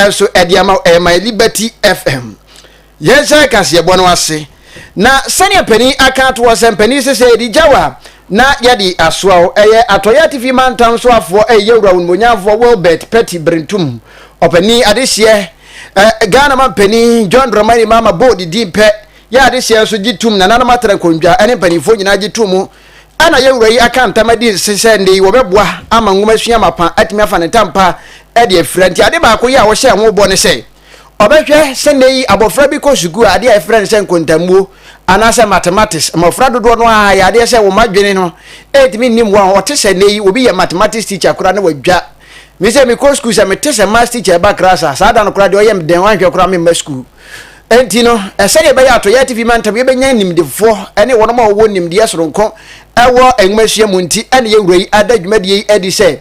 nso ɛde ama ɛyɛ my liberty fm yɛn sɛ kaseɛbɔ no ase na sɛnea panin aka ato hɔ sɛ mpanin sɛ sɛ yɛde gyaw a na yɛde asoa o ɛyɛ atɔyɛ atifi mantam so afoɔ ɛyɛ yɛwura wo nomonyamfoɔ wilbert pɛti berentum ɔpanin adehyeɛ eh, ghana ma mpanin john dramani mama bold din pɛ yɛ adehyeɛ nso gye tum nananom atara nkondwa ɛne mpanimfoɔ nyinaa gye tum a na yɛn Wura yi aka ntam adi nse sɛ nnɛ yi wɔbɛboa ama nwomasua mapa atumi afa ne tam pa de afira. Nti ade baako yi a wɔhyɛɛ ho bɔ ne sɛ wɔbɛhwɛ sɛ nnɛ yi abɔfra bi kɔ sukuu a adeɛ a yɛfrɛ no sɛ nkontammuo anaasɛ mathematics. Mmɔfra dodoɔ no ara yɛ adeɛ sɛ wɔn adwene no ɛntumi nni mmoa ho. Ɔte sɛ nnɛ yi obi yɛ mathematics teacher koraa na wadwa. Me sɛ mekɔ sukuu sɛ mete sɛ maths teacher ɛba class a, saa da no koraa deɛ ɔyɛ me dɛn, ɔanhwɛ koraa memma sukuu. Enti no, sɛnea ɛbɛyɛ a Toyɛ TV mantam yɛbɛnya animdefoɔ ne wɔnom a wɔwɔ nimdeɛ soronko wɔ nwomasua mu nti na yɛn wura yi ada dwumadie yi adi sɛ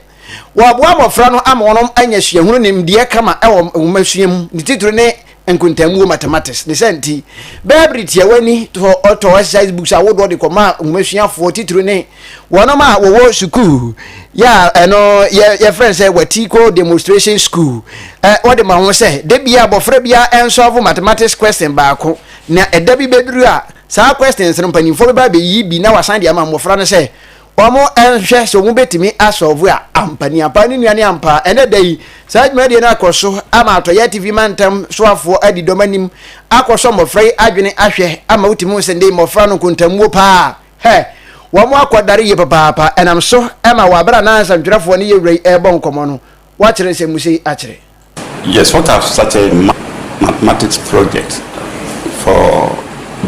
wɔaboa mmɔfra no ama wɔnom anya suahunu ne nimdeɛ kama wɔ nwomasua mu ne titire ne nkontaamuo mathematics. Ne saa nti, bɛɛ bere tiawa ni tɔ ɔtɔ exercise books ahodoɔ de kɔmaa nwomasuafoɔ titire ne Wɔn a wɔwɔ sukuu yɛ a ɛno yɛ yɛfrɛ no sɛ vertical demonstration school ɛ wɔde ma ho sɛ da bi abɔfra bi a ɛnsɔlvo mathematics question baako na ɛda bi bɛduru a saa questions no mpanimfoɔ bɛba abɛyi bi na wasan de ama mmɔfra no sɛ wɔn nhwɛ sɛ wɔn bɛtumi asɔlvo a ampa ni ampa ne nua ne ampa ɛnɛ da yi saa dwumadie no akɔ so ama atɔyɛ tv mantam soafoɔ adi dɔm anim akɔ so mmɔfra yi adwene ahwɛ ama wotumi ho sɛ ndei mmɔfra no nkontammuo paa Hɛ! Wɔakɔdare yie papaapa. Ɛnam so ma wɔ bere a na nsɛntwerɛfoɔ ne yɛn Wura yi rebɔ nkɔmmɔ no, wɔakyerɛ nsɛmmusa yi akyerɛ. Yes, what have such a mathematics project for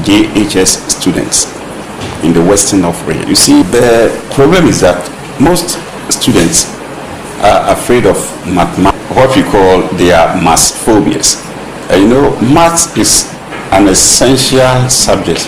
JHS students in the western of Re? You see, the problem is that most students are afraid of mathematics, what we call their maths phobias. And you know, maths is an essential subject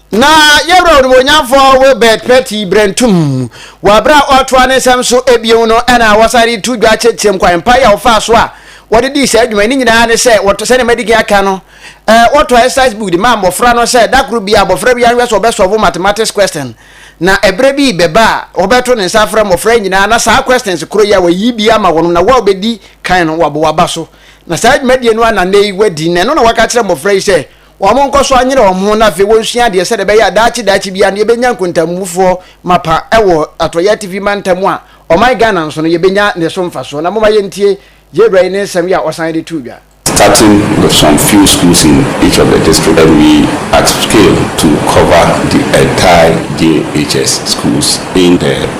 Na yɛwura onimuonyamfoɔ Wilbert Patti Brentum, wɔ berɛ a ɔretoa ne nsɛm so bio no na wɔsan de to dwa kyerɛkyerɛm kwan pa yi a wɔfaa so a wɔde dii saa dwuma yi. Ne nyinaa ne sɛ, wɔtɔ, sɛdeɛ madi kan aka no, eh, wɔtɔ exercise book de maa mmɔfra no sɛ da koro biara abɔfra biara nhwɛ sɛ ɔbɛsɔvo mathematics question. Na ɛberɛ bi rebɛba a wɔbɛto ne nsa afrɛ mmɔfra nyinaa na saa questions koro yi a wɔayi bi ama wɔn na wo a wobɛdi kan no wabɔ w'aba so. Na saa dwumadie no ara na nnɛ yi wɔadi, na ɛno na wɔaka akyerɛ mmɔfra yi sɛ Wɔnkɔ so nyere wɔn ho na afei wonsua adeɛ sɛdeɛ ɛbɛyɛ a daakye daakye biara no yɛbɛnya nkontammufoɔ mapa wɔ Atɔeɛ Atifi Mantam a ɔman Ghana nso no yɛbɛnya ne so mfasoɔ. Na momma yɛntie yɛn wura yi ne nsɛm yi a ɔsan de too dwa. Starting with some few schools in each of the district and we upscale to cover the entire JHS schools in the.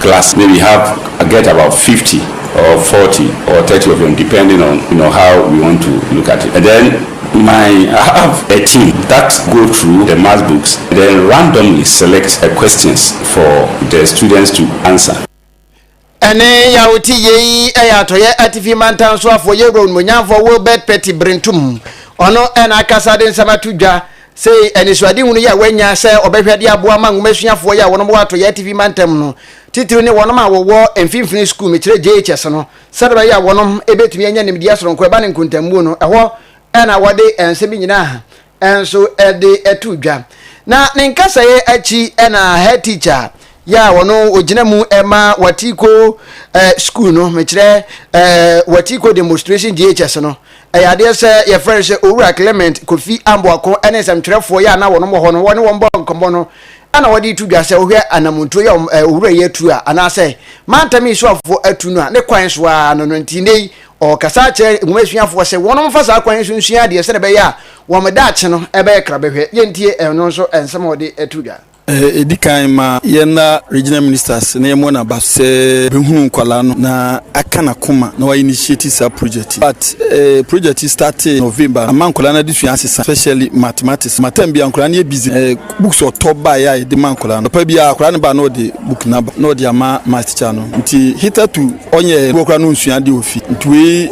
class maybe you have get about fifty or forty or thirty of them depending on you know how we want to look at it and then my I have a team that go through the math books and then randomly select a questions for the students to answer. ɛne yawo ti yei ɛyɛ atɔyɛ atifi mantan so afɔ yɛ wura onimonyamfɔ Wilbert Petty Brentum ɔno ɛna akasa de nsɛm ato dwa Sei anisoadehu no yɛ a wɔanya sɛ ɔbɛhwɛ de aboa ama nwoma suafoɔ yi a wɔnom wɔ atɔeɛ atifi mantam no, titiriw ne wɔnom a wɔwɔ mfimfini sukuu, mekyerɛ JHS no, sɛdeɛ ɛbɛyɛ a wɔnom bɛtumi anya nimdeɛ soronko ɛba ne nkontammuo no, ɛhɔ na wɔde nsɛm yi nyinaa nso de to dwa. Na ne nkasaeɛ akyi na head teacher yɛ a ɔno ɔgyina mu ma Watiiko eh, sukuu no, mekyerɛ eh, Watiiko demonstration JHS no, Ɛyɛ adeɛ sɛ yɛfrɛ no sɛ Owura Clement Kofi Amboako ne nsɛmtwerɛfoɔ yi a na wɔn wɔ hɔ no, wɔne wɔn bɔɔ nkɔmmɔ no na wɔde reto dwa sɛ wohwɛ anammɔntuo yi a Owura yi atu a, anaasɛ mantam yi soafoɔ atu no a, ne kwan so ara no no nti nnɛ yi ɔrekasa akyerɛ nwoma suafoɔ sɛ wɔn mfa saa kwan yi so nsua adeɛ sɛdeɛ ɛbɛyɛ a wɔn daakye no ɛbɛyɛ krabɛhwɛ. Yɛntie ɛno nso nsɛm a ɔde to dwa. Ɛdi kan, ma yɛn na Regional Ministers na yɛmmɔ no aba sɛ bɛhunu nkwadaa no na aka n'akoma na wɔainitiate saa project yi. But eh, project yi startee November no, ama nkwadaa no adesua asesa especially mathematics. Ma term bi a nkwadaa no yɛ busy, eh, books ɔtɔ baeɛ a yɛde ma nkwadaa no. Papa bi a akwadaa no baa na ɔde book no aba na ɔde ama math teacher no. Nti hitherto ɔnyɛ wɔ koraa no nsua adeɛ wɔ fie. Nti wei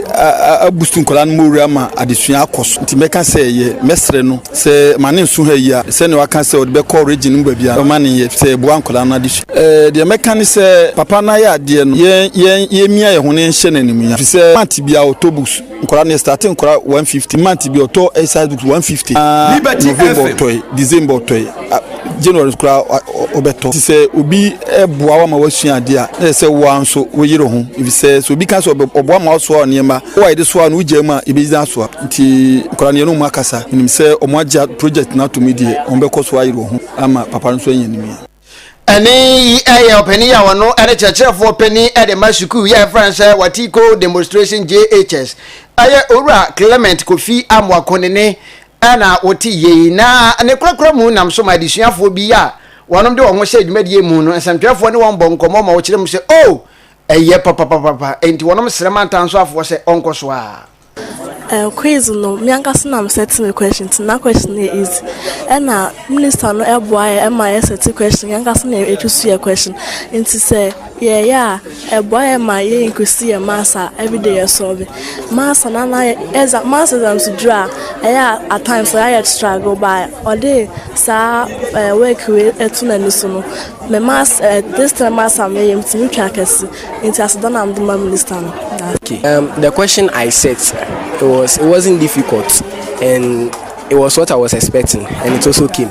abustu nkwadaa no mɔwura ama adesua akɔ so. Nti mɛka sɛ yɛ mɛsrɛ no Sɛ ma ne nsu ha yi a, sɛnea waka sɛ ɔde bɛkɔ region no mu baabi a, ɔma ne yɛ sɛ ɛboa nkwadaa no adesua. Eh, deɛ mɛka ne sɛ papa no ayɛ adeɛ no, yɛn, yɛn, yɛmmia yɛn ho na yɛnhyɛ no animuonyam. Ɛfiri sɛ month biara ɔtɔ books, nkwadaa no yɛstate nkwadaa 150, month bi ɔtɔ exercise books 150, na November ɔtɔe, December ɔtɔe. January koraa wobɛtɔ nti sɛ obi boa wo ma woasua adeɛ a na yɛ sɛ woa nso woyere ho efisɛ sɛ obi ka sɛ ɔboa ma woasoa nneɛma wo a yɛde soa no wogyaa mu a yɛbɛgyina asoa nti nkwadaa no yɛne ɔmo akasa menim sɛ ɔmo agya project no atom deɛ ɔmo bɛkɔ so ayere ho ama papa no nso anya nimia Ɛne yi yɛ ɔpanin yi a ɔno ne kyerɛkyerɛfoɔ panin de ma sukuu yi a yɛfrɛ no sɛ Watiko Demonstration JHS. Ɛyɛ Owura Clement Kofi Amoako ne ne Hena na ɔte yei, na ne korakora mu nam so ma adesuafoɔ bi a wɔnom de wɔn ho hyɛ dwumadie mu no, nsɛmtwerɛfoɔ ne wɔn bɔ nkɔmmɔ ma wɔkyerɛ mu sɛ, O, ɛyɛ papapapapa, enti wɔnom srɛ ma ntansoafoɔ sɛ ɔnkɔ so ara. Eh, quiz no, me ankasa na me set me question nti na question no yɛ easy. Ɛna minister no boaeɛ ma yɛ set question, yɛn ankasa na yɛtwi so yɛ question. Nti sɛ. Yɛyɛ a, ɛboa yɛn ma yɛ increase yɛn mass a everyday yɛ solve mass na na yɛ exam mass exams duru a ɛyɛ a at times ɛyɛ a yɛ struggle by ɔde saa ɛɛ eh, work wei ɛto n'ani so no mɛ mass ɛɛ eh, this time mass a mɛyɛ mu tumi twa kɛse nti aseda na mede ma minister no. Okay. Um, the question I set it was it wasn't difficult and it was what I was expecting and it also came.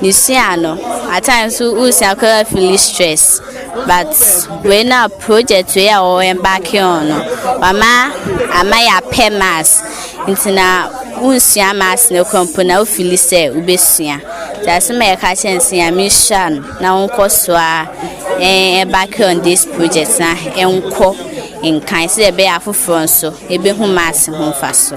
Mesua no at times so wosua koraa fili stress but wei na project wei a wɔwɔ embarking on no wama ama yɛ apɛ mass nti na wonsua mass no kora mpo na wofili sɛ wobɛsua nti asɛm a yɛka kyɛ nsɛ ya mehyira no na wonkɔ so a embarking on this project na ɛnkɔ nkan sɛ ɛbɛyɛ afoforɔ nso ɛbɛhu mass ho mfa so.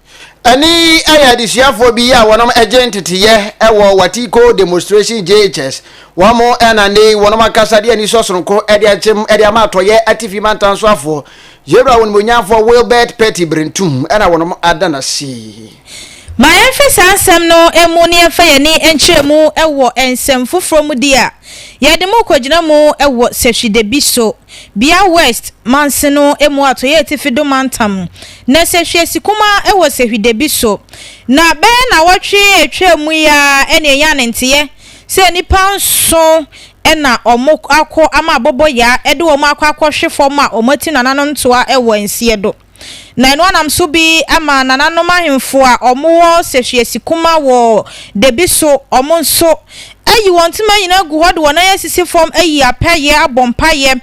Ɛne yi yɛ adesuafoɔ bi a wɔnom gye nteteyɛ wɔ Watiko Demonstration JHS. Wɔn na nnɛ yi wɔnom akasa de anisɔ sononko de akyem de ama atɔyɛ atifi mantan soafoɔ, Yewura Onimuonyamfoɔ Wilbert Petty Brentum na wɔnom ada no ase. Ma yɛnhwɛ saa nsɛm no mu na yɛmfa yɛn ani nkyerɛ mu wɔ nsɛm foforɔ mu di a yɛde mo rekɔgyina mu wɔ sɛhwidabi so. Bia West mansin no mu atɔeɛ atifi do mantam, na sehwiesi kumaa wɔ sehwidabi so. Na bɛyɛ naawɔtwe a etwaa mu yi ara na enyaa ne nteyɛ sɛ nnipa nson na wɔakɔ ama abɔbɔyaa de wɔn akɔ akɔhwe fam a wɔatu nananom toa wɔ nseɛ do. na ɛno ara nam so bi ma nananom ahemfo a wɔwɔ sɛhwiase kuma wɔ dabi so, wɔn nso, ayi wɔn ntoma nyinaa agu hɔ de wɔn nan asisi fam ayi apɛyɛ abɔ mpaeɛ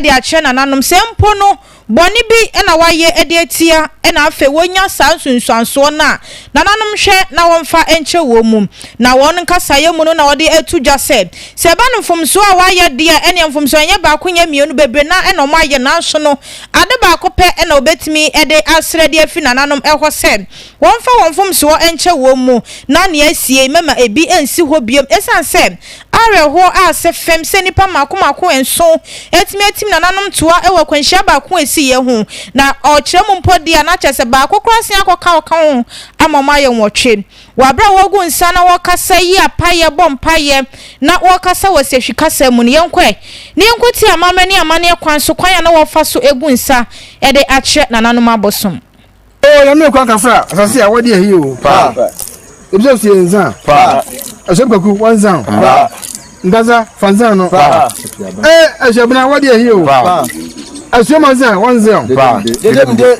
de akyerɛ nananom sɛ mpo no bɔne bi na wɔayɛ de atia na afei wɔnya saa nsunsuansoɔ no a nananom nhwɛ na wɔmfa nkyɛ wɔn mu na wɔn nkasaeɛ mu no na wɔde ato dwa sɛ sɛ ɛba no mfomsoɔ a wɔayɛ deɛ ɛneɛ mfomsoɔ ɛnyɛ baako nyɛ mmienu bebree na ɛna wɔayɛ nanso no Ade baako pɛ na wobetumi de asrɛ de afi nananom hɔ sɛ wɔmfa wɔn mfomsoɔ nkyɛ wɔn mu, na nea asiei mɛma ebi nsi hɔ bio. Esiane sɛ awerɛhoɔ a ɛsɛ fam sɛ nnipa mmaako mmaako nson atumi atim nananom toa wɔ akwanhyia baako a esiiɛ ho, na ɔkyerɛ mu mpo deɛ a, na kyerɛ sɛ baako koraa asen akɔka ɔka ho ama wɔayɛ nwɔtwe. Wɔ bere a wɔgu nsa na wɔkasa, yi apaeɛ, bɔ mpaeɛ, na wɔkasa wɔ sehwi kasa mu no, yɛnkɔ ɛ, na yɛnkɔ tie amammerɛ ne amanneɛ kwan so kwan a na wɔfa so gu nsa de akyerɛ nananom abosom. O Nyame kwan ka fra asase a wɔde ahi o. Pa. Ebisa sie nsa. Pa. Ɛhyɛm kaku wɔn nsa. Pa. Nkasa fa nsa no. Pa. E ɛhyɛ bena wɔde ahi o. Pa. Asuoma nsa wɔn nsa. Pa. Dede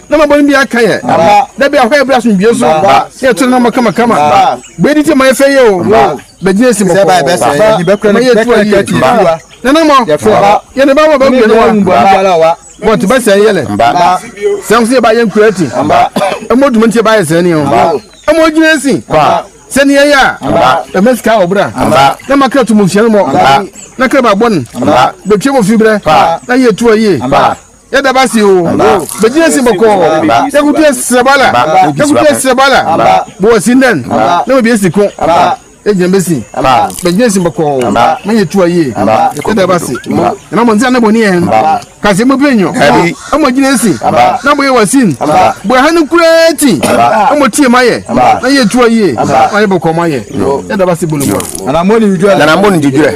na ma bɔne bi aka yɛ da bi ahɔ yɛ berɛ asomdwie so na yɛto no nɔma kamakama bɛyɛ di ti ma yɛfɛ yɛ o bɛgyina asi mɔkɔɔ ma yɛ tu ayɛ ti na na mɔ yɛne ba ma ba mmienu wa mɔ te ba sɛ yɛ lɛ sɛ nso yɛ ba yɛ nkura ti ɛmɔ duma nti yɛ ba yɛ sɛ ne o ɛmɔ gyina asi sɛni yɛ yɛ a ɛmɛ sika ɔbra na ma kira tumu nhyɛn mɔ na kira ba bɔ ne bɛtwe wɔ fi brɛ na yɛ tu ayɛ yɛda ba se o bɛgyina si bɔkɔɔ yɛkoto asiraba la yɛkoto asiraba la bɔwɔ si ndan na bɛbie si ko yɛgyina bɛsi bɛgyina si bɔkɔɔ ma yɛ tu ayie yɛda ba se ɛma mɔ nsa na bɔni yɛn kasi mo pɛnyɔ ɛmɔ gyina si na bɔyɛ wɔ sin bɔyɛ ha no kura ti ɛmɔ tie ma yɛ na yɛ tu ayie ma yɛ bɔkɔɔ ma yɛ yɛda ba se bɔlɔmɔ nana mɔ ni didwɛ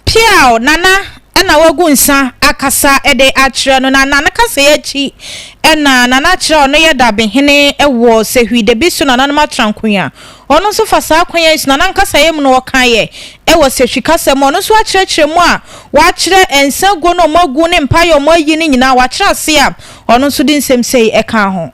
Piaw, Nana na wagu nsa akasa de akyerɛ no, na Nana kasa yi akyi na Nana kyerɛ a ɔno yɛ dabehene wɔ Sehwi da bi so nananom atrankon a ɔno nso fa saa kwan yi so Nana nkasaeɛ mu no ɔkaeɛ wɔ Sehwi kasa mu a ɔno nso akyerɛkyerɛ mu a wakyerɛ nsa guo no a wɔagu ne mpaeɛ a wɔayi no nyinaa wakyerɛ ase a ɔno nso de nsɛm sei ɛkaa ho.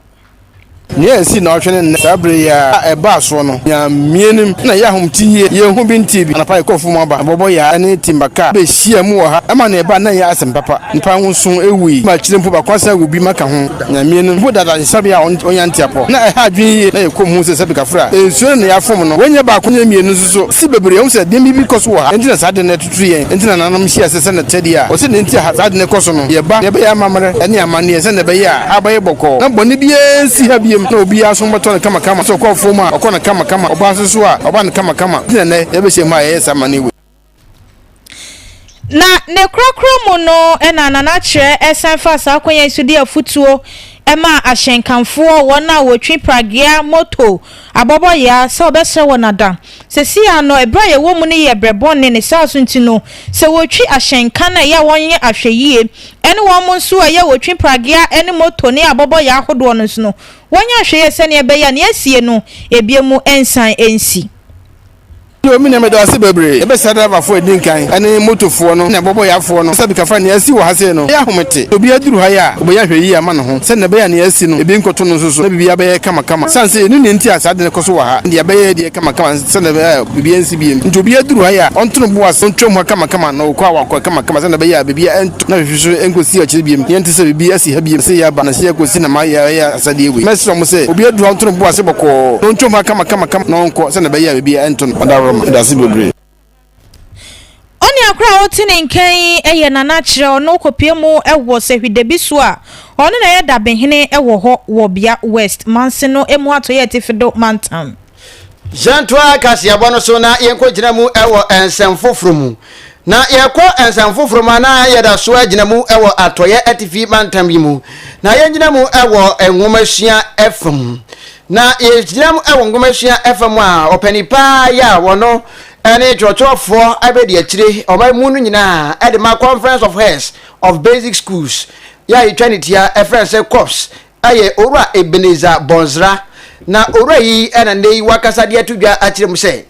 Nea esii nnawɔtwe ne nnɛ saa bere yi a ɛbaa so no, nyaa mmianim na ɛyɛ ahomete yiye. Yenhu bi ntee bi. Anɔpa yi kɔɔfo mu aba, abɔbɔyaa ne timba kaa behyiaa mu wɔ ha. Ɛma nea ɛbae no anyɛ asɛm papa. Nnipa nson wui, ma akyiri mpo baako asan awu bi ma ka ho. Nyaa mmianim. Mpo dada ayaresabea a onya nteapɔ na ɛha adwene yiye na yekoom hu sɛ sɛpik afura. Nsuo no na yɛafom no. Wei nyɛ baako nyɛ mmienu nso so. Esi bebree. Yɛahu sɛ nneɛma bi kɔ so wɔ ha. Enti na saa de no Kristo yɛn nti nananom hyɛɛ ase sɛ n'akyɛdeɛ a ɔsɛ nenti a saa ade no kɔ so no, yɛba, yɛbɛyɛ amammerɛ ne amanneɛ sɛdeɛ ɛbɛyɛ a aba yɛ bɔkɔɔ na bɔne biara nsi ha biom na obiara asom bɛtɔ no kamakama, sɛ ɔkɔ afuom a ɔkɔ no kamakama, ɔba nso so a ɔba no kamakama, nti na nnɛ yɛbɛhyiam ha a yɛyɛ saa amanneɛ wei. Na ne korakora mu no na Nana Kyerɛ san faa saa kwan yi so de afutuo maa ahyɛnkanfoɔ, wɔn a wɔtwi pragea, moto, Abɔbɔ yɛ ara sɛ ɔbɛsrɛ wɔn ada. Seesei ara no, bere a yɛwɔ mu no yɛ bere bɔne. Ne saa so nti no, sɛ wɔretwi ahyɛnka no a, ɛyɛ a wɔnyɛ ahwɛyiye. Ɛne wɔn nso a ɛyɛ a wɔtwi pragea ne moto ne abɔbɔ yɛ ahodoɔ no nso no, wɔnyɛ ahwɛyiye sɛnea ɛbɛyɛ a nea asie no, ebinom nsan nsi. Bio, me nua, meda wo ase bebree. Yɛbɛsra draevafoɔ a ɛdi nkan ne motofoɔ no ne abɔbɔyafoɔ no sɛ bi ka fa nea asi wɔ ha sei no yɛ ahomete. Sɛ obiara duru ha yi a, ɔbɛnya ahwɛyie ama ne ho sɛdeɛ ɛbɛyɛ a nea asi no, ebi nkɔto no nso so na biribiara bɛyɛ kamakama. Ɛsiane sɛ yɛnnim nea enti a saa ade no kɔ so wɔ ha, ɛnde yɛbɛyɛ yɛn deɛ kamakama sɛdeɛ ɛbɛyɛ a biribiara nsi bio. Enti obiara duru ha yi a, ɔnto ne bo ase, ɔntwam ha kamakama na ɔkɔ a, wakɔ kamakama sɛdeɛ ɛbɛyɛ a biribiara na mehwehwe so enkosi akyiri bio. Yɛnte sɛ biribi asi ha bio. Ɛsɛ yɛaba na ɛsɛ yɛkosi na mayɛ ara yɛ asɛdeɛ wei. Mɛsrɛ mo sɛ, obiara duru ha nto ne bo ase bɔkɔɔ, na ontwam ha kamakamakama, na ɔnkɔ, sɛdeɛ ɛbɛyɛ a biribiara ɛnto no adaworoma. Meda ase bebree. Onua koro a ɔte ne nkan yi yɛ Nana Kyerɛ. Ɔno kɔpue mu wɔ Sehwidabi so a ɔno na ɛyɛ dabehene wɔ hɔ wɔ Bia West manse no mu atɔeɛ atifi do mantam. Yɛntoa kaseɛbɔ no so na yɛnkɔgyina mu wɔ nsɛm foforɔ mu. Na yɛkɔ nsɛm foforɔ mu a, na yɛda so agyina mu wɔ Atɔeɛ Atifi mantam yi mu. Na yɛngyina mu wɔ nwomasua ɛfa mu. Na yɛgyina mu wɔ nwomasua ɛfa mu a, ɔpani paa yi a wɔno ne twerɛtwerɛfoɔ abɛdi akyire ɔma mu no nyinaa de ma Conference of Heads of Basic Schools yɛ a yɛtwa ne tia ɛfrɛ no sɛ COPS yɛ Owura Ebenezer Bonsra, na Owura yi na nnɛ yi wakasa de ato dwa akyerɛ mu sɛ,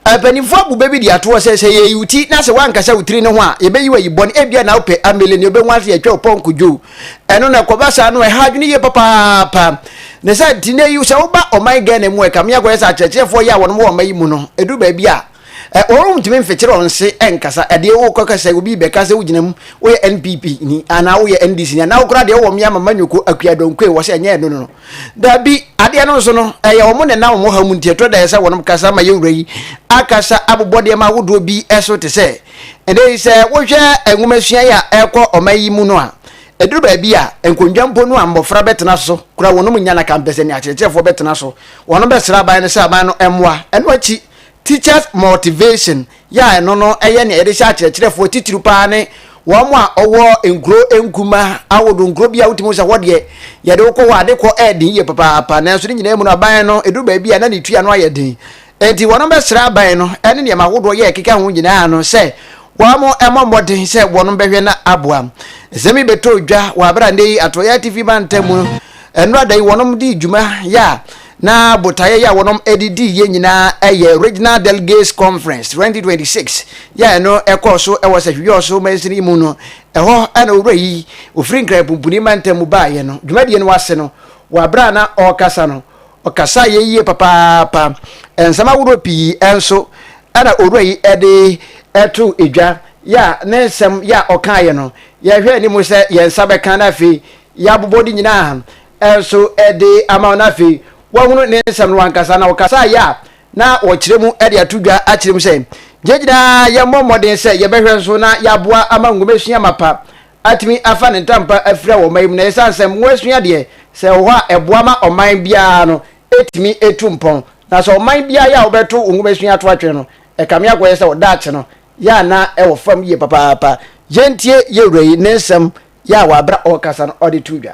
Mpanyimfoɔ abu bɛ bi de atoɔ sɛ, sɛ yɛyi wo ti na sɛ woankasa wo tiri no ho a, yɛbɛyi wo ayi bɔne, ebia na wopɛ amele nea wobɛhu ase atwa wo pɔnkɔ dwo. Ɛno na ɛkɔba saa no, ɛha adwene yie papaapa. Ne sɛ, nnɛ yi sɛ woba ɔman Ghana mu a, ɛkame akɔyɛ sɛ akyerɛkyerɛfoɔ yi a wɔn wɔ ɔman yi mu no, ɛduru baabi a, Ɛ, wɔrentumi mfekyere wɔn se nkasa. Ɛ, deɛ wokɔka sɛ obi rebɛka sɛ wogyina mu, woyɛ NPP ni, anaa woyɛ NDC ni, anaa koraa deɛ wowɔ mmea Mama Nyoko, Akua Donkwe, wɔ sɛ ɛnyɛ ɛno no. Dabi, adeɛ no nso no, ɛyɛ wɔn na ɛnam wɔn haw mu nti ɛtɔ da ɛsɛ sɛ wɔnom kasa ma yɛn wura yi akasa abobɔ nneɛma ahodoɔ bi so te sɛ, ɛnnɛ yi sɛ wohwɛ nwomasua yi a ɛrekɔ ɔman yi mu no a, ɛduru baabi a, nkonnwa mpo no a mmɔfra bɛtena so koraa wɔnom nnya na kampɛsɛ nea akyerɛkyerɛfoɔ bɛtena so, wɔnom bɛsrɛ aban no sɛ aban no mmoa. Ɛno akyi. Teachers Motivation yɛ a ɛno no yɛ nea yɛde hyɛ akyerɛkyerɛfoɔ titiriw paa ne wɔn a ɔwɔ nkuro nkuma ahodoɔ nkuro bi a wotumi sɛ hɔ deɛ yɛde wokɔ hɔ ade kɔ ɛɛden yie papaapa nanso ne nyinaa mu no aban no ɛduru baabi a na ne tua no ayɛ den enti wɔn bɛsrɛ aban no ɛne nneɛma ahodoɔ yɛ ɛkeka ho nyinaa no sɛ wɔn mmɔ mmɔden sɛ wɔn bɛhwɛ na aboa nsɛm yi bɛtɔ dwa wɔ abera nnɛ yi atoyɛ atifi mantam mu no ɛnora da yi wɔn de dwuma yɛ a Na botaeɛ yi a wɔnom de dii yɛ nyinaa yɛ Regional Delegates Conference 2026 yi a ɛno ɛkɔɔ so wɔ Sahwi-Yɔɔso mansini yi mu no. Ɛhɔ na Owura yi ɔfiri Nkran Pumpuni mantam mu baeɛ no. Dwumadie no ase no, wɔ aberɛ a na ɔrekasa no, ɔkasaeɛ yie papaapa. Nsɛm ahoroɔ pii nso na Owura yi de too dwa, yɛ a ne nsɛm yɛ a ɔkaeɛ no, yɛhwɛ anim sɛ yɛn nsa bɛka na afei yɛabobɔ ne nyinaa nso de ama wo na afei woahunu ne nsɛm no wankasa, na ɔkasa yɛ a na ɔkyerɛ mu de ato dwa akyerɛ mu sɛ yɛn nyinaa yɛmmɔ mmɔden sɛ yɛbɛhwɛ nso na yɛaboa ama nwomasua mapa atumi afa ne ntampa afira wɔ ɔman yi mu, na ɛsiane sɛ mmoasua deɛ sɛ ɛwɔ hɔ a ɛboa ma ɔman biara no tumi tu mpɔn, na sɛ ɔman biara yɛ a wobɛto wo nwomasua ato atwene no, ɛkame akɔyɛ sɛ wo daakye no yɛ a na ɛwɔ fam yie papaapa. Yɛntie yɛn wura yi ne nsɛm yɛ a wɔ aberɛ a ɔrekasa no ɔde too dwa.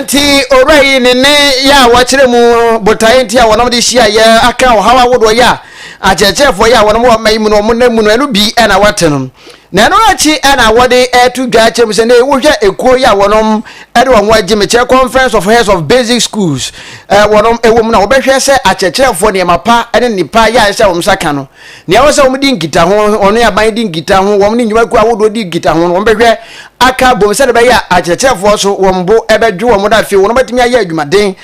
nti owura yi ne ne yɛ a wɔkyerɛ mu botaeɛ nti a wɔnom de hyia yɛ aka ɔhaw ahodoɔ yɛ a akyerɛkyerɛfoɔ yɛ a wɔnom wɔ ma yi mu no wɔn nam mu no ɛno bi ɛna wɔte no na ɛno akyi ɛna wɔde ɛto dwa akyerɛ mu sɛ ne wohwɛ ekuo yɛ a wɔnom ɛde wɔn ho agye mekyerɛ conference of heads of basic schools ɛɛ wɔnom ɛwɔ mu na wɔbɛhwɛ sɛ akyerɛkyerɛfoɔ nneɛma pa ɛne nipa yɛ a ɛsɛ wɔn nsa ka no Nea ɛwɔ sɛ wɔdi nkitaho, wɔne aban di nkitaho, wɔne nnwumakuo ahodoɔ di nkitaho no, wɔbɛhwɛ aka abom sɛdeɛ ɛbɛyɛ a akyerɛkyerɛfoɔ so wɔn bo bɛdwo wɔn na afei wɔbɛtumi ayɛ adwumaden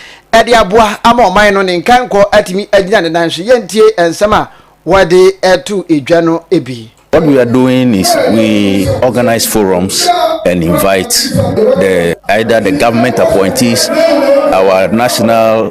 de aboa ama ɔman no ne nkankɔ atumi agyina ne nan so. Yɛntie nsɛm a wɔde to dwa no bi. What we are doing is we organize forums and invite the either the government appointees, our national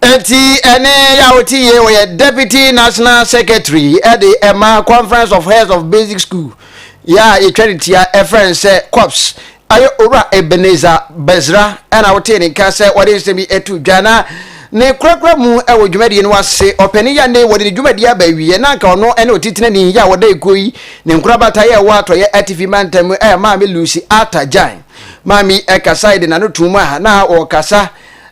Enti ɛne yaw te yie ɔyɛ deputy national secretary de ɛma conference of heads of basic school yɛ a yɛtwa ne tia ɛfrɛ no sɛ COPS ayɛ owura Ebenezer Bɛsra ɛna wotee ne nka sɛ wɔde nsɛm yi ato dwa na ne korakora mu wɔ dwumadie no ase ɔpɛni yɛ ne wɔde ne dwumadie aba awieɛ na anka ɔno ne ɔtitenani yɛ a wɔda ekuo yi ne nkorabata yɛ ɛwɔ atɔyɛ atifi mantam mu ɛyɛ maame Lucy Atta Gyan maame yi ɛkasae de n'ano tum a na ɔkasa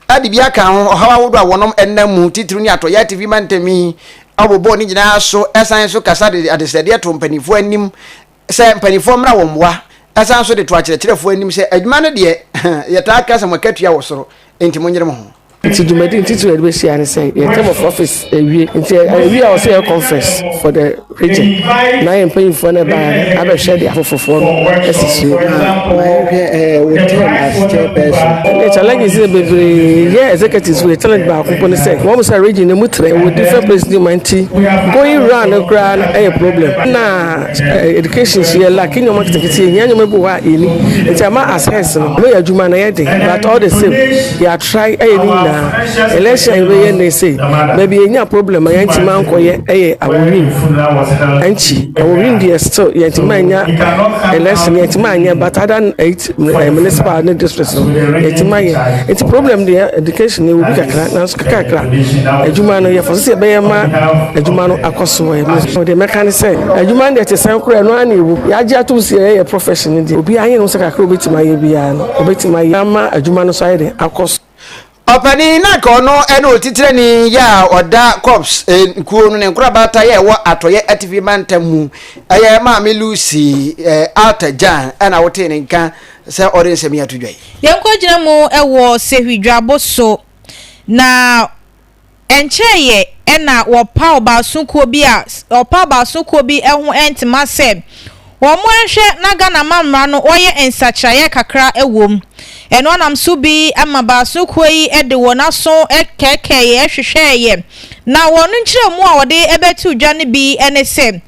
Ade bi aka ho, ɔhaw ahodoɔ a wɔnom ɛnam mu, titiriw ne atɔyɛ a TV mantam yi abobɔ ne nyinaa so, ɛsan nso kasa de adesrɛdeɛ to mpaninfoɔ anim sɛ mpaninfoɔ mmra wɔn mmoa, ɛsan nso de to akyerɛkyerɛfoɔ anim sɛ adwuma no deɛ yɛtaa ka sɛ mo akatua wɔ soro, enti monyere mo ho. Nti dwumadi no titiriw a yɛde bɛhyia ne sɛ yɛn Term of Office awie, nti awie a wɔse yɛyɛ conference for the. Agya, na yɛn mpanyimfoɔ no ɛbaa no abɛhwɛ de afoforfoɔ no asi so. Ma yɛnhwɛ ɛɛ wɔ term asekyerɛ pɛɛ so. Ɛnna challenges yɛ bebree yɛ executives wɔ challenge baako mpo ne sɛ wɔn mo sɛ region no mu trɛ wɔ different places nyuma nti going round no koraa no ɛyɛ problem. Ɛnna education so yɛ lack nneɛma nketenkete yɛ hia nneɛma bi wɔ hɔ a yɛni nti ama as heads no ɛma yɛ adwuma no yɛ den but all the same. Yɛatrae ayɛ ne nyinaa. Election a yɛbɛyɛ nnɛ sei, baabi yɛnya problem a yɛantumi ankɔyɛ yɛ Awowin. Ɛnkyi, Awowin deɛ still yɛntumi anya election, yɛntumi anyɛ but other than eight eh, municipal ne district no, yɛntumi ayɛ. Nti problem deɛ education yɛwɔ bi kakra, nanso kakrakra adwuma no yɛfɔ sɛ yɛbɛyɛ ma adwuma no akɔ so wɔ ɛmɛ. Deɛ mɛka ne sɛ, adwuma no deɛ te sɛn koraa ɛno ara na ɛwu. Yɛagye atom sɛ yɛyɛ profession no deɛ, obiara yɛ no sɛ kakra a obɛtumi ayɛ biara no. Obetumi ayɛ ama adwuma no nso ayɛ den akɔ so. Ɔpanin no a anka ɔno ne otitrani yɛ a ɔda Corps kuo no ne nkorabata yɛ a ɛwɔ Atɔeɛ Atifi Mantam mu yɛ Maame Lucy Arthur Gyan na wotee ne nka sɛ ɔde nsɛm yi ato dwa yi. Yɛnkɔgyina mu wɔ Sehwi dwabo so na. Ɛnkyɛeɛ na wɔpaw baaso kuo bi a wɔpaw baaso kuo bi ho ntoma sɛ wɔnhwɛ na Ghana amammara no wɔyɛ nsakyeraeɛ kakra wɔ mu. Ɛno nam so bi ma baaso kuo yi de wɔn aso kɛɛkɛɛeɛ hwehwɛeɛ na wɔn nkyerɛmu a wɔde bɛto dwa no bi ne sɛ,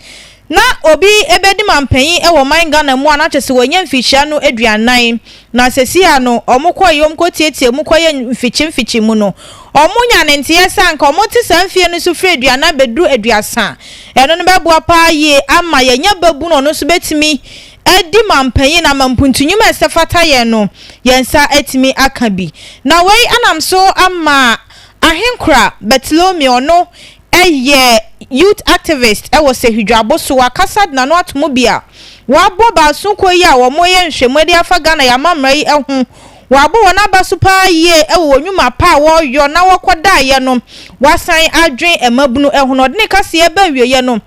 Na obi bɛdi manpanyin wɔ ɔman Ghana mu a na kyerɛ sɛ wanya mfikyia no aduanan. Na seesei a no wɔkɔ yɛ wɔkɔtiatia mu kɔyɛ mfikye mfikye mu no, wɔnya ne nteɛ sɛ anka wɔte saa mfeɛ no so firi aduanan bɛduru aduasa a, ɛno no bɛboa pa ara yie ama yɛanya babunu a ɔno nso bɛtumi adi manpanyin na ama mpuntunwuma a ɛsɛ fata yɛn no, yɛn nsa atumi aka bi. Na wei nam so ama Ahenkora Bartolomeo no yɛ youth activist wɔ Sehwi-Dwabo-Sowa kasa de n'ano ato mu bi a wɔabɔ baason kuo yi a wɔreyɛ nhwɛmu de afa Ghana yɛn amammerɛ yi ho. Wɔabɔ wɔn aba so pa ara yie wɔ wɔn nnwuma pa a wɔreyɔ na wɔkɔdaeɛ no. Wɔasan adwene mmabunu ho na ɔde ne kaseɛ reba awieɛ no,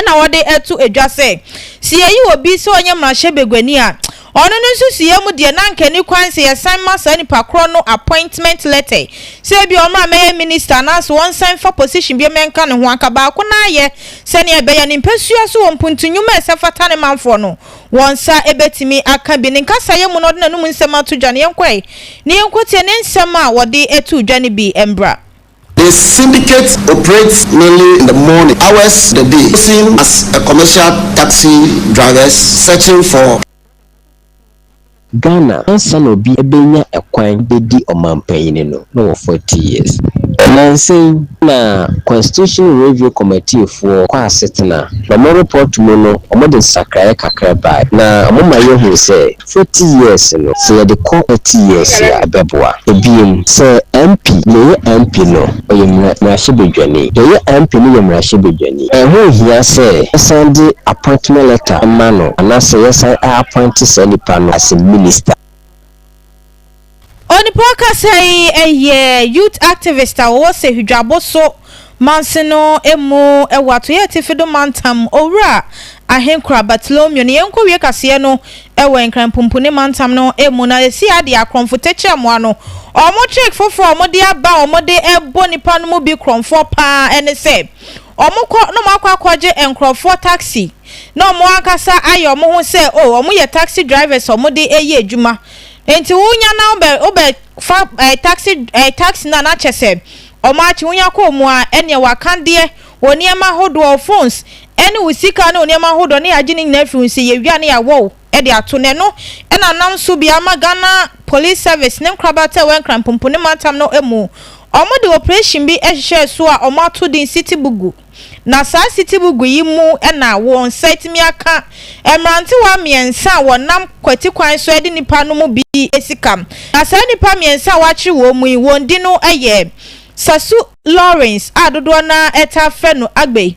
na wɔde ato dwa sɛ, sɛ yɛyi obi sɛ ɔnyɛ mmarahyɛbaguani a, ɔno no nsusuiɛ mu deɛ na anka ɛni kwan sɛ yɛsan ma saa nipa korɔ no appointment letter sɛ ebia ɔmmra mmɛyɛ minister anaasɛ ɔnsan mfa position biam nka ne ho, anka baako no ara yɛ sɛdeɛ ɛbɛyɛ ne mpasua so wɔ mpuntu nnwuma a ɛsɛ fata ne manfoɔ no wɔn nsa bɛtumi aka bi. Ne nkasaeɛ mu no ɔde n'anom nsɛm ato dwa no, yɛnkɔ ɛ na yɛnkɔtie ne nsɛm a wɔde too dwa no bi mmra. The Syndicate operates mainly in the morning hours of the day, posing as a commercial taxi drivers searching for. Ghana, ansa na obi benya kwan bedi ɔmanpanyin no, na ɔwɔ forty years. Nnansa yi na Constitution Review Committee foɔ kɔ asetena, na wɔn report mu no wɔde nsakraeɛ kakra baeɛ, na wɔma yɛhu sɛ Forty years no, sɛ yɛde kɔ thirty years a, ɛbɛboa. Ebiem, sɛ MP, deɛ ɔyɛ MP no, ɔyɛ mmara, mmarahyɛbadwani. Deɛ ɔyɛ MP no yɛ mmarahyɛbadwani. Ɛho nhia sɛ yɛsan de appointment letter ma no, anaasɛ yɛsan a appointe saa nipa no as a minister. Onipa ɔkasa yi yɛ youth activist a ɔwɔ Sehidwaboso mansin no mu wɔ Atoyɛ Atifi do mantam, Owura Ahenkura Bartolomeo. Ne yɛnkowie kaseɛ no wɔ Nkran Pumpuni mantam no mu na yɛsi adeɛ akorɔmfo tɛkyerɛmo ano. Wɔn trick foforɔ a wɔde aba a wɔde bɔ nnipa no mu bi korɔmfoɔ paa ne sɛ, wɔkɔ na wɔakɔ akɔgye nkorɔfoɔ taxi na wɔn ankasa ayɛ wɔn ho sɛ oh wɔyɛ taxi drivers a wɔde yɛ adwuma. Enti wo nya na wobɛ wobɛ fa eh, taxi eh, taxi no a na kyɛ sɛ ɔmo akye wo nya kɔɔ mu a ɛneɛ waka deɛ wo nneɛma ahodoɔ wo phones ɛne wo sika ne wo nneɛma ahodoɔ ne yagye ne nyinaa firi wo nsɛ yɛwie a ne yawɔ wo de ato na ɛno na nam so bi ama Ghana police service ne nkorabata ɛwɔ Nkranpumpu ne mantam no mu ɔmo de operation bi ɛhyehyɛɛ so a ɔmo ato din City Bugu. Na saa sitibugu yi mu na wo nsa atumi aka mmerantewa mmiɛnsa a wɔnam kwati kwan so de nnipa no mu bi asi kam. Na saa nnipa mmiɛnsa a wɔakyere wɔn mu yi, wɔn din no yɛ Sasu Lawrence a dodoɔ no ara taa frɛ no Agbay,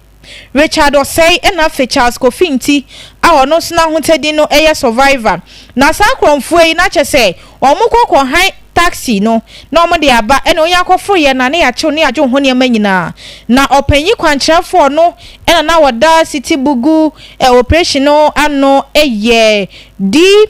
Richard Osei ɛna afei Charles Kofi Nti a ɔno nso n'ahotadin no yɛ Survivor. Na saa akorɔmfoɔ yi, na kyerɛ sɛ Wɔkɔ kɔ han taxi no na wɔn de aba ɛna onya kɔ foro yɛ na ne yakyew ne yadwo ho nneɛma nyinaa na ɔpanyin kwankyerɛfoɔ no ɛna na wɔda city bugu ɛ operation no ano ɛyɛ D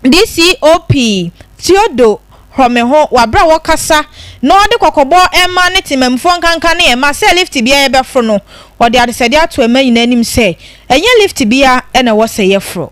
DCOP Theodore Hromeho wɔ aberɛ a wɔkasa na ɔde kɔkɔbɔ ɛma ne temanmufoɔ nkanka ne ɛma sɛ lift biara yɛbɛforo no ɔde adesɛdeɛ ato ɛma nyinaa anim sɛ ɛnyɛ lift biara ɛna ɛwɔ sɛ yɛforo.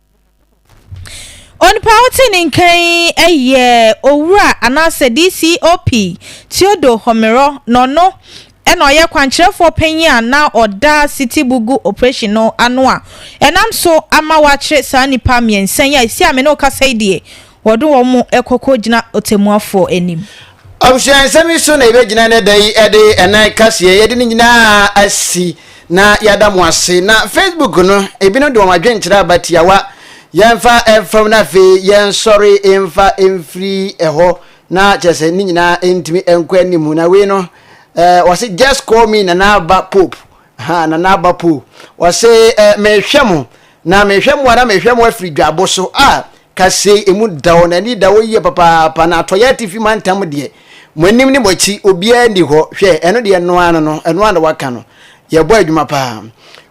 Onipa a ɔte ne nka yi yɛ Owura anaasɛ DCOP Theodore Homerɔ na ɔno na ɔyɛ kwankyerɛfoɔ panyin a na ɔda City Bugu operation no ano a ɛnam so ama wɔakyere saa nnipa mmiɛnsa yi a ɛsi a me ne wo kasa yi deɛ Wɔde wɔn kɔ kogyina ɔtɛmmuafoɔ anim. Abusua nsɛm yi so na yɛbɛgyina nnɛ da yi de ɛnan kaseɛ yɛde ne nyinaa asi na yɛada mo ase na Facebook no ebinom de wɔn adwenkyerɛ aba tiawa yɛmfa mfam na afei yɛnsɔre mfa mfiri ɛhɔ na kyerɛ sɛ ne nyinaa ntumi nkɔ anim na wei no wɔse just call me nana aba pope Ha na n'aba po. Ɔse eh, mehwɛ mo, na mehwɛ mo ara mehwɛ mo afiri dwabo so. Ah, kasei emu da hɔ, n'ani da hɔ yie papaapa, na atɔeɛ atifi mantam deɛ, mo anim ne mo akyi, obiara nni hɔ. Hwɛ, ɛno deɛ ɛno ara no no, ɛno ara na waka no. Yɛbɔ adwuma paa.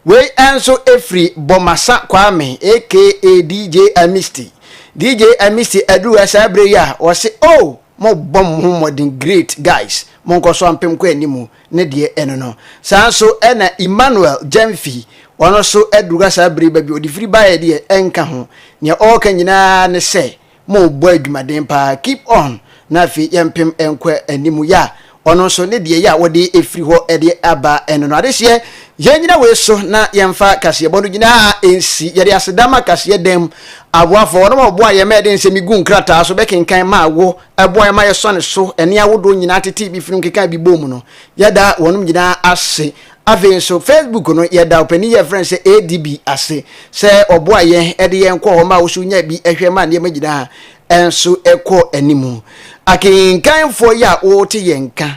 Wei nso firi Bomasa Kwame aka DJ Amisty. DJ Amisty aduru ha saa berɛ yi a, ɔse oh, mobɔ mo ho mmɔden, great guys, monkɔ so ampem kɔ anim. ne deɛ ɛno no. Saa nso na Emmanuel Gyamfi, ɔno nso aduru ha saa bere yi ba bi, ɔde firi baeɛ deɛ ɛnka ho. Nea ɔreka nyinaa ara ne sɛ, Mobɔ adwumaden pa ara, keep on, na afei yɛmpem nkɔ anim. Ya, ɔno nso ne deɛ ya a wɔde afiri hɔ de aba ɛno no. Adehyeɛ, yɛnnyina wei so na yɛmfa kaseɛbɔ no nyinaa nsi. Yɛde aseda ma kaseɛ dam aboafoɔ, wɔnom a wɔboa yɛn ma yɛde nsɛm yi guu nkrataa so bɛkenkan maa wo ɛboa yɛn ma yɛsɔ ne so, ɛne ahodoɔ nyinaa tetee bi firi nkeka bi bɔɔ mu no, yɛda wɔnom nyinaa ase. Afei nso, Facebook no, yɛda ɔpanin yɛ frɛ no sɛ ADB ase sɛ ɔboa yɛn de yɛn kɔ hɔ ma woso nya bi hwɛ ma nneɛma nyinaa nso kɔ anim. Akenkanfoɔ yi a wɔte yɛn nka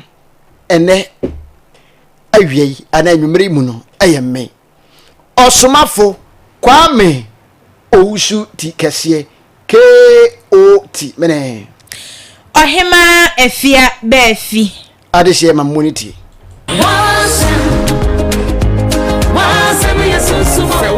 ɛnɛ awia yi anaa anwummere mu no yɛ mmɛn. Ɔsomafo Kwame Owusu ti kɛseɛ KOT mene. Ɔhemaa Afia Baafi. Adehyeɛ ma mmɔ ne ti. W'asɛm, w'asɛm yɛ sunsum o.